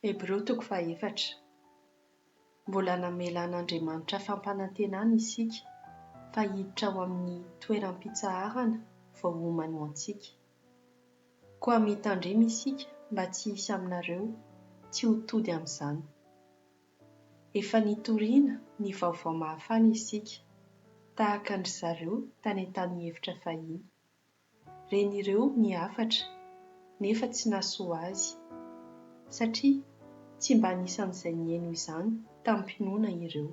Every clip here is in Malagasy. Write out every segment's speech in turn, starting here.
Hebreo toko fahefatra. Mbola namela an'Andriamanitra fampanantenana isika fa hiditra ao amin'ny toeram-pitsaharana vao homany ho antsika. Koa mitandrema isika mba tsy hisy aminareo tsy ho tody amin'izany. Efa nitoriana ny vaovao mahafaly isika, tahaka an-dry zareo tany an-tany efitra fahiny. ren'ireo ny hafatra nefa tsy nahasoa azy satria tsy mba anisan'izay niheno izany tamim-pinoana ireo.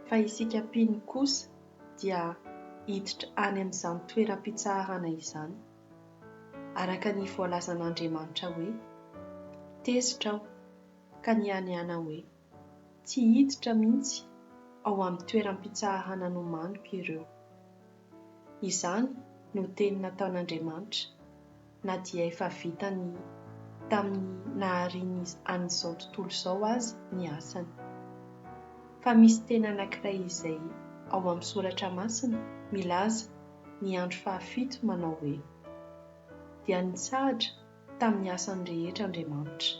Fa isika mpino kosa dia hiditra any amin'izany toeram-pitsaharana izany, araka ny voalazan'Andriamanitra hoe, Tezitra aho, ka nihanihana hoe. Tsy hiditra mihitsy ao amin'ny toeram-pitsahahana nomaniko ireo. Izany no teny nataon'Andriamanitra, na dia efa vitany tamin'ny nahariany an'izao tontolo izao aza ny asany. Fa misy teny anankiray izay ao amin'ny Soratra Masina milaza ny andro fahafito manao hoe, Dia nitsahatra tamin'ny asany rehetra Andriamanitra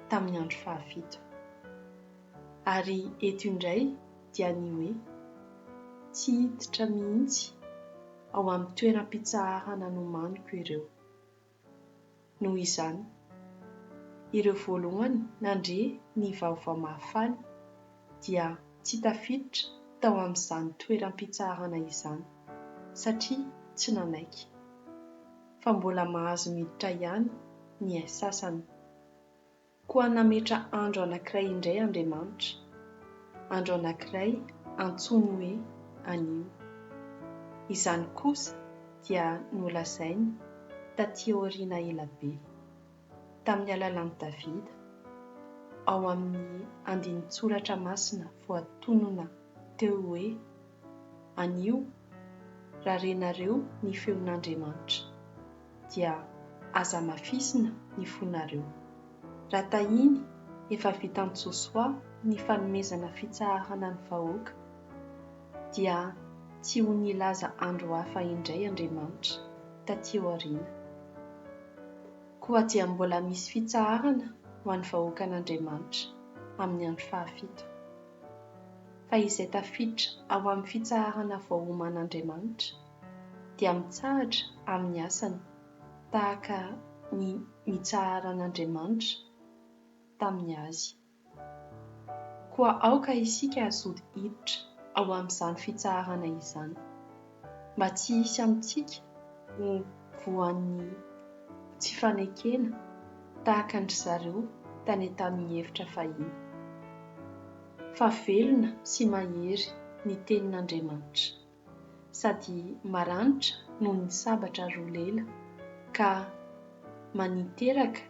tamin'ny andro fahafito. Ary eto indray dia ny hoe tsy hiditra mihitsy ao amin'ny toeram-pitsaharana nomaniko ireo. Noho izany, ireo voalohany nandre ny Vaovao Mahafaly dia tsy tafiditra tao amin'izany toeram-pitsaharana izany satria tsy nanaiky. fa mbola mahazo miditra ihany ny sasany. Koa nametra andro anankiray indray Andriamanitra, andro anankiray antsoiny hoe anio. Izany kosa dia nolazainy taty aoriana ela be, tamin'ny alalan'i Davida, ao amin'ny andinin-tsoratra masina voatonona teo hoe, Anio, raha renareo ny feon'Andriamanitra, dia aza amafisina ny fonareo. Raha tahiny efa vitan'i Josoa ny fanomezana fitsaharana ny vahoaka, dia tsy ho nilaza andro hafa indray Andriamanitra taty aoriana. Koa dia mbola misy fitsaharana ho an'ny vahoakan'Andriamanitra amin'ny andro fahafito. fa izay tafiditra ao amin'ny fitsaharana voaoman'Andriamanitra dia mitsahatra amin'ny asany tahaka ny nitsaharan'Andriamanitra tamin'ny azy. Koa aoka isika hazoto hiditra ao amin'izany fitsaharana izany. mba tsy hisy amintsika ho voan'ny tsy fanekena tahaka an-dry zareo tany tamin'ny efitra fahiny. Fa velona sy mahery ny Tenin'Andriamanitra, sady maranitra noho ny sabatra roa lela, ka maniteraka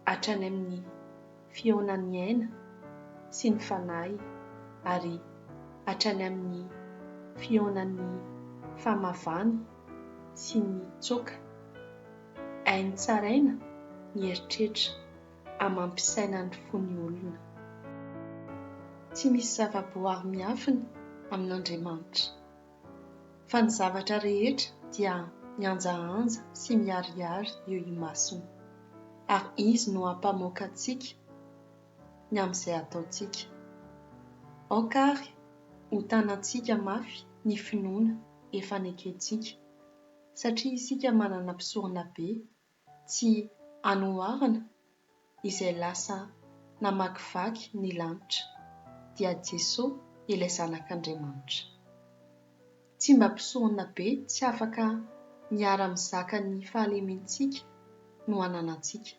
hatrany amin'ny. fihaonan'ny aina sy ny fanahy ary hatrany amin'ny fihaonan'ny famavana sy ny tsoaka. Hainy tsaraina ny eritreritra amam-pisainan'ny fo ny olona. Tsy misy zava-boahary miafina amin'Andriamanitra. Fa ny zavatra rehetra dia mihanjahanja sy miharihary eo imasony, ary Izy no hampamoaka antsika ny amin'izay ataontsika. Aoka àry ho tanantsika mafy ny finoana efa nekentsika, satria isika manana Mpisoronabe tsy anoharana izay lasa namakivaky ny lanitra, dia Jesoa ilay Zanak'Andriamanitra. Tsy mba mpisorona be tsy afaka miara-mizaka ny fahalementsika no ananantsika,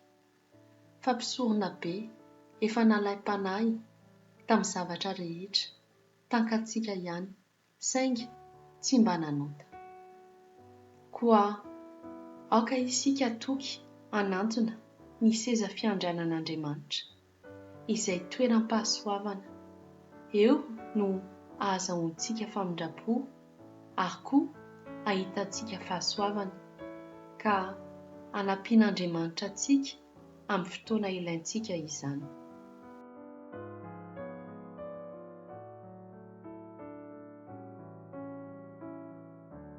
fa mpisorona be efa nalaim-panahy tamin'ny zavatra rehetra, tankantsika ihany saingy tsy mba nanota. Koa aoka isika toky hanantona ny seza fiandrianan'Andriamanitra, izay toeram-pahasoavana, eo no ahazahoantsika famindram-po ary koa ahitantsika fahasoavana, ka hanampian'Andriamanitra antsika amin'ny fotoana ilaintsika izany.